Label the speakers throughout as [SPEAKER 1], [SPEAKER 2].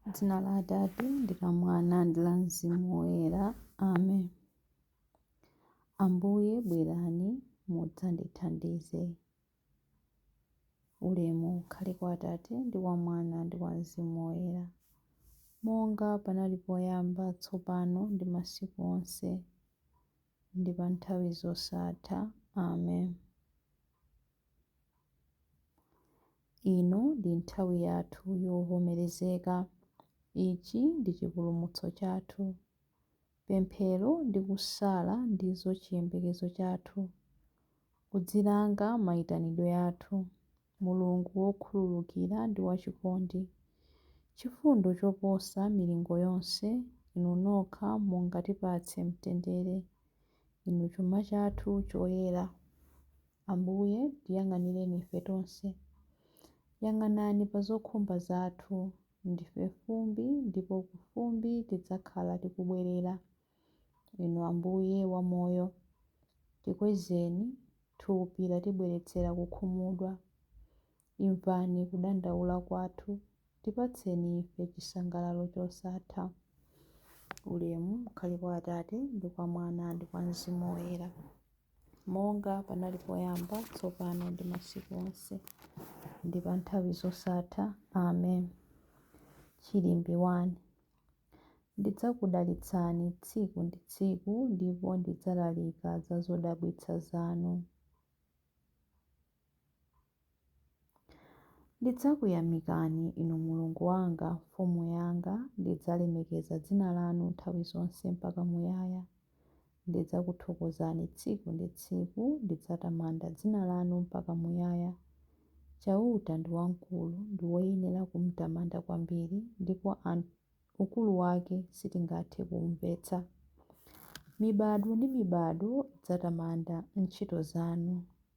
[SPEAKER 1] M'dzina la Atate, ndi la Mwana, ndi la Mzimu Woyera. Amen. Ambuye bwerani mudzandithandize. Ulemu ukhale kwa Atate, ndi kwa Mwana, ndi kwa Mzimu Woyera, monga panali poyamba, tsopano, ndi masiku onse, ndi pa nthawi zosatha. Amen. Ino ndi nthawi yathu yovomerezeka. Ichi ndi chipulumutso chathu. Pemphero ndi kusala ndizo chiyembekezo chathu. Kudzilanga maitanidwe athu. Mulungu wokhululukira ndi wachikondi. Chifundo choposa milingo yonse, Inu nokha mungatipatse mtendere. Inu chuma chathu choyera. Ambuye, tiyang'anireni ife tonse. Yang'anani pa zokhumba zathu. Ndife fumbi, ndipo ku fumbi tidzakhala tikubwerera. Inu Ambuye wamoyo, tikwezeni, thupi latibweretsera kukhumudwa. Imvani kudandaula kwathu, tipatseni ife chisangalalo chosatha. Ulemu ukhale kwa Atate, ndi kwa Mwana, ndi kwa Mzimu Woyera, monga panali poyamba, tsopano, ndi masiku onse, ndi pa nthawi zosatha. Amen. Chilimbi 1. Ndidzakudalitsani tsiku ndi tsiku, ndipo ndidzalalika za zodabwitsa zanu. Ndidzakuyamikani, Inu Mulungu wanga, Mfumu yanga, ndidzalemekeza dzina lanu nthawi zonse mpaka muyaya. Ndidzakuthokozani tsiku ndi tsiku, ndidzatamanda dzina lanu mpaka muyaya. Chauta ndi wamkulu, ndi woyenera kumtamanda kwambiri, ndipo ukulu wake sitingathe kuumvetsa. Mibadwo ndi mibadwo idzatamanda ntchito zanu.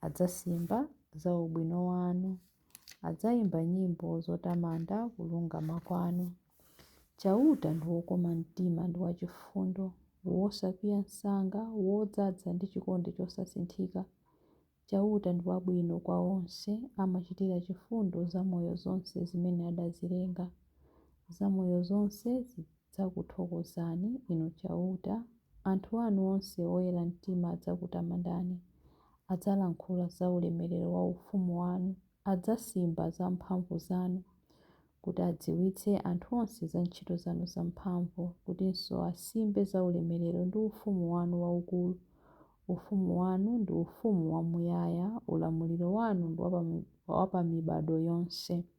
[SPEAKER 1] adzasimba za ubwino wanu, adzaimba nyimbo zotamanda kulungama kwanu. Chauta ndi wokoma mtima ndi wachifundo, wosakwiya msanga, wodzadza ndi chikondi chosasinthika. Chauta ndi wabwino kwa onse, amachitira chifundo zamoyo zonse zimene adazilenga. Zamoyo zonse zi. Zidzakuthokozani, Inu Chauta, anthu anu onse oyera mtima adzakutamandani. Adzalankhula za ulemerero wa ufumu wanu, adzasimba za mphamvu zanu, kuti adziwitse anthu onse za ntchito zanu zamphamvu, kutinso asimbe za ulemerero ndi ufumu wanu waukulu. Ufumu wanu ndi ufumu wamuyaya, ulamuliro wanu ndi wa pa mibadwo yonse.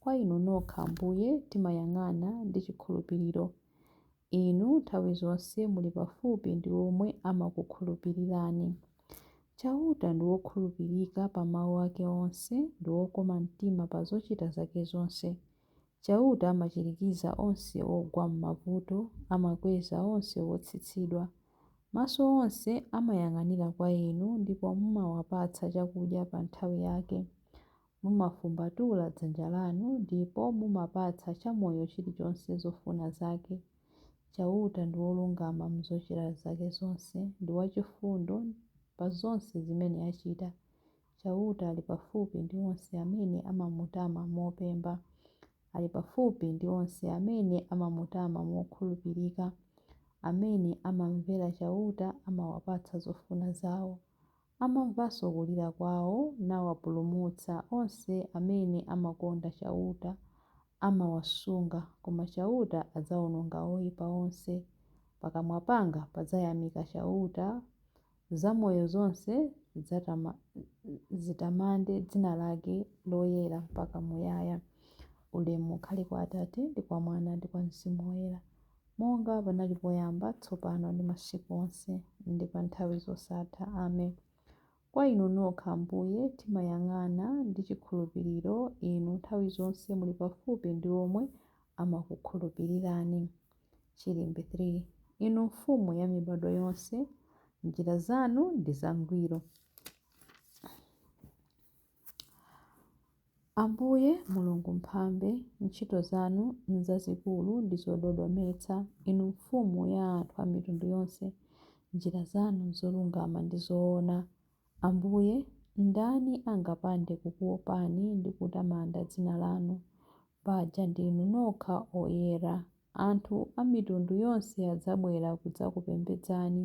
[SPEAKER 1] Kwa Inu nokha, Ambuye, timayang'ana ndi chikhulupiriro. Inu nthawi zonse muli pafupi ndi omwe amakukhulupirirani. Chauta ndi wokhulupirika pa mau ake onse ndi wokoma mtima pa zochita zake zonse. Chauta amachirikiza onse ogwa m'mavuto, amakweza onse wotsitsidwa. Maso onse amayang'anira kwa Inu ndipo mumawapatsa chakudya pa nthawi yake. mumafumbatula dzanja lanu ndipo mumapatsa chamoyo chilichonse zofuna zake. Chauta ndi wolungama m'zochita zake zonse, ndi wachifundo pa zonse zimene achita. Chauta ali pafupi ndi onse amene amamutama mopemba, ali pafupi ndi onse amene amamutama mokhulupirika. Amene amamvera Chauta amawapatsa zofuna zao. Amamvanso kulira kwao nawapulumutsa. Onse amene amakonda Chauta, amawasunga. Koma Chauta adzaononga oipa onse. Pakamwa panga padzayamika Chauta. Zamoyo zonse zitama, zitamande dzina lake loyera mpaka muyaya. Ulemu ukhale kwa Atate, ndi kwa Mwana, ndi kwa Mzimu Woyera. Monga panali poyamba, tsopano, ndi masiku onse, ndi pa nthawi zosatha. Amen. Kwa Inu nokha, Ambuye, timayang'ana, ndi chikhulupiriro, Inu nthawi zonse muli pafupi ndi omwe amakukhulupirirani. Chilimbi 3. Inu Mfumu ya mibadwo yonse, njira zanu ndi zangwiro. Ambuye Mulungu Mphambe, ntchito zanu nzazikulu ndi zododometsa, Inu Mfumu ya anthu a mitundu yonse, njira zanu zolungama ndi zoona. Ambuye, ndani angapande kukuopani ndi kutamanda dzina lanu? Paja ndinu nokha oyera. Anthu a mitundu yonse adzabwera kudzakupembedzani.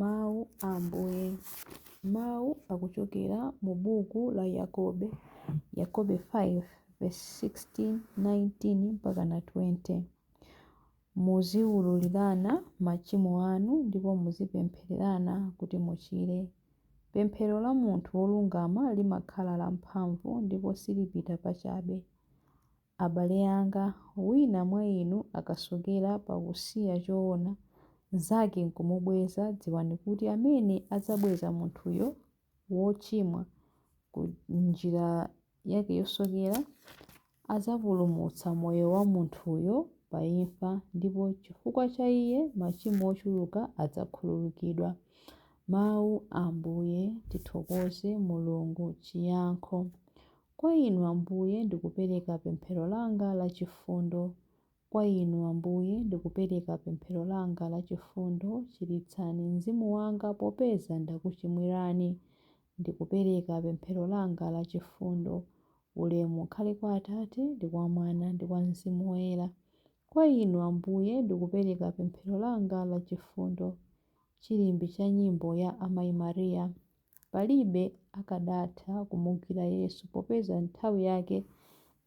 [SPEAKER 1] Mawu a Ambuye. Mawu akuchokera mu buku la Yakobe, Yakobe 5 verse 16, 19 mpaka na 20. Muziwululirana machimo anu ndipo muzipemphererana kuti muchire. Pemphero la munthu wolungama limakhala lamphamvu ndipo silipita pachabe. Abale anga, wina mwa inu akasokera pakusiya choona, mnzake nkumubweza, dziwani kuti amene adzabweza munthuyo wochimwa ku njira yake yosokera, adzapulumutsa moyo wa munthuyo pa imfa, ndipo chifukwa cha iye machimo ochuluka adzakhululukidwa. Mawu a Ambuye. Tithokoze Mulungu. Chiyankho Kwa Inu, Ambuye, ndikupereka pemphero langa la chifundo. Kwa Inu, Ambuye, ndikupereka pemphero langa la chifundo, chiritsani mzimu wanga popeza ndakuchimwirani. Ndikupereka pemphero langa la chifundo. Ulemu ukhale kwa Atate, ndi kwa Mwana, ndi kwa Mzimu Woyera. Kwa Inu, Ambuye, ndikupereka pemphero langa la chifundo. Chilimbi cha Nyimbo ya Amayi Maria. Palibe akadatha kumugwira Yesu popeza nthawi yake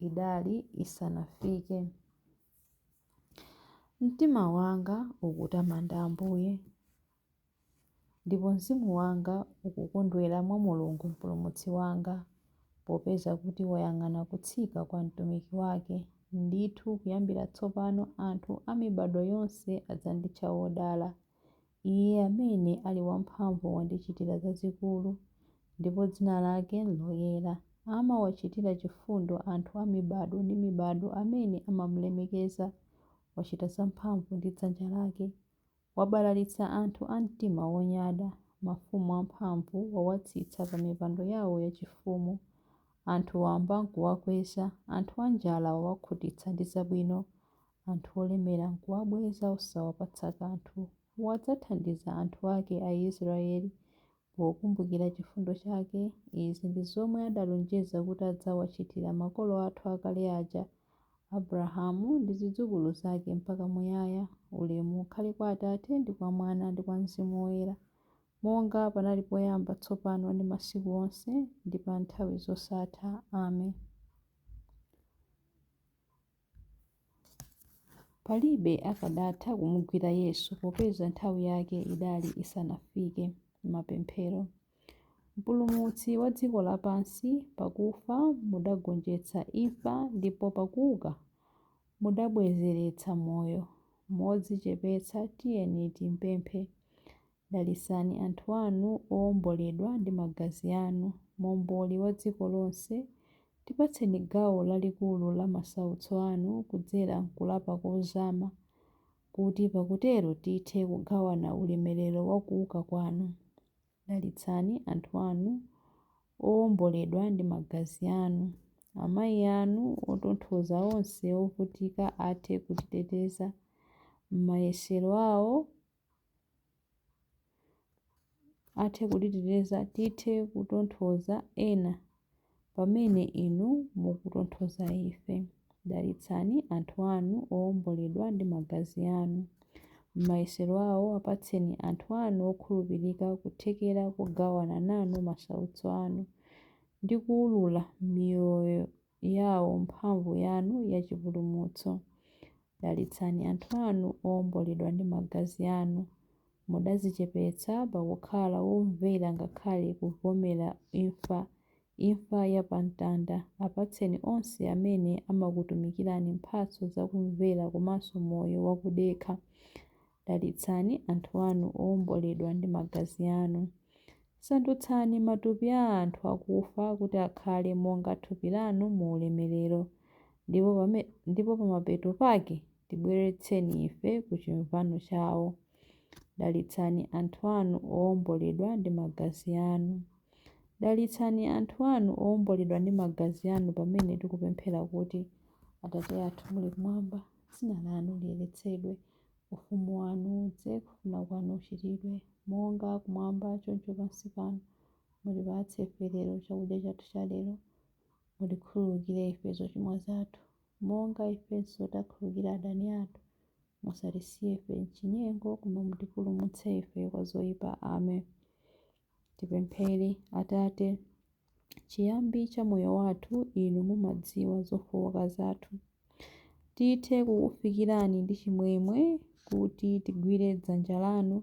[SPEAKER 1] idali isanafike. Mtima wanga ukutamanda Ambuye, ndipo mzimu wanga ukukondwera mwa Mulungu Mpulumutsi wanga, popeza kuti wayang'ana kutsika kwa mtumiki wake. Ndithu kuyambira tsopano anthu a mibadwo yonse adzanditcha wodala. Iye amene ali wamphamvu wandichitira zazikulu, ndipo dzina lake n'loyera. Amawachitira chifundo anthu a mibadwo ndi mibadwo amene amamulemekeza. Wachita zamphamvu ndi dzanja lake. Wabalalitsa anthu a mtima wonyada. Mafumu amphamvu wawatsitsa pamipando yawo yachifumu. Anthu wamba n'kuwakweza. Anthu anjala wawakhutitsa ndi zabwino. anthu olemera n'kuwabweza osawapatsa kanthu. Wadzathandiza anthu ake Aisiraeli pokumbukira chifundo chake. Izi ndi zomwe adalonjeza kuti adzawachitira makolo athu akale aja, Abrahamu ndi zidzukulu zake mpaka muyaya. Ulemu ukhale kwa Atate ndi kwa Mwana ndi kwa Mzimu Woyera, monga panali poyamba, tsopano ndi masiku onse, ndi pa nthawi zosatha. Amen. Palibe akadatha kumugwira Yesu popeza nthawi yake idali isanafike. Mapemphero. Mpulumutsi wa dziko lapansi, pakufa mudagonjetsa imfa ndipo pakuuka mudabwezeretsa moyo. Modzichepetsa tiyeni timpemphe. Dalitsani anthu anu owomboledwa ndi magazi anu, Momboli wa dziko lonse, tipatseni gawo lalikulu la masautso anu kudzera m'kulapa kozama, kuti pakutero tithe kugawana ulemerero wa kuuka kwanu. Dalitsani anthu anu owomboledwa ndi magazi anu, Amayi anu otonthoza onse ovutika athe kutiteteza m'mayesero awo athe kutiteteza, tithe kutonthoza ena pamene inu mukutonthoza ife. Dalitsani anthu anu owomboledwa ndi magazi anu. M'mayesero awo apatseni anthu anu okhulupirika kuthekera kogawana nanu masautso anu ndi kuulula m'miyoyo yawo mphamvu yanu ya chipulumutso. Dalitsani anthu anu owomboledwa ndi magazi anu. Mudadzichepetsa pakukhala womvera ngakhale kuvomera imfa, imfa ya pa mtanda. Apatseni onse amene amakutumikirani mphatso za kumvera komanso moyo wa kudekha. Dalitsani anthu anu owomboledwa ndi magazi anu. Sandutsani matupi a anthu akufa kuti akhale monga thupi lanu mu ulemerero, ndipo pamapeto pake tibweretseni ife ku chimvano chawo. Dalitsani anthu anu owomboledwa ndi magazi anu. Dalitsani anthu anu owomboledwa ndi magazi anu pamene tikupemphera kuti, Atate athu muli kumwamba, dzina lanu liyeretsedwe. Ufumu wanu udze. Kufuna kwanu kuchitidwe, monga kumwamba choncho pansi pano. Mutipatse ife lero chakudya chathu chalero. Mutikhululukire ife zochimwa zathu, monga ifenso takhululukira adani athu. Musatisiye ife m'chinyengo, koma mutipulumutse ife kwa zoipa. Amen. Tipemphere. Atate, chiyambi cha moyo wathu inu mumadziwa zofooka zathu. Tithe kukufikirani ndi chimwemwe kuti tigwire dzanja lanu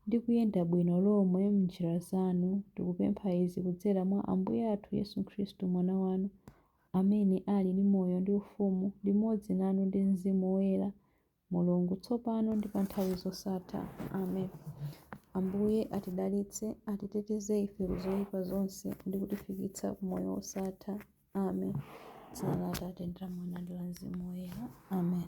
[SPEAKER 1] ndi kuyenda bwino lomwe m'njira zanu. Tikupempha izi kudzera mwa Ambuye athu Yesu Khristu, Mwana wanu, amene ali ndi moyo ndi ufumu limodzi nanu ndi Mzimu Woyera, Mulungu, tsopano ndi pa nthawi zosatha. Amen. Ambuye atidalitse, atiteteze ife ku zoyipa zonse ndi kutifikitsa ku moyo wosatha. Amen. Dzina la Atate ndi la Mwana ndi la Mzimu Woyera. Amen.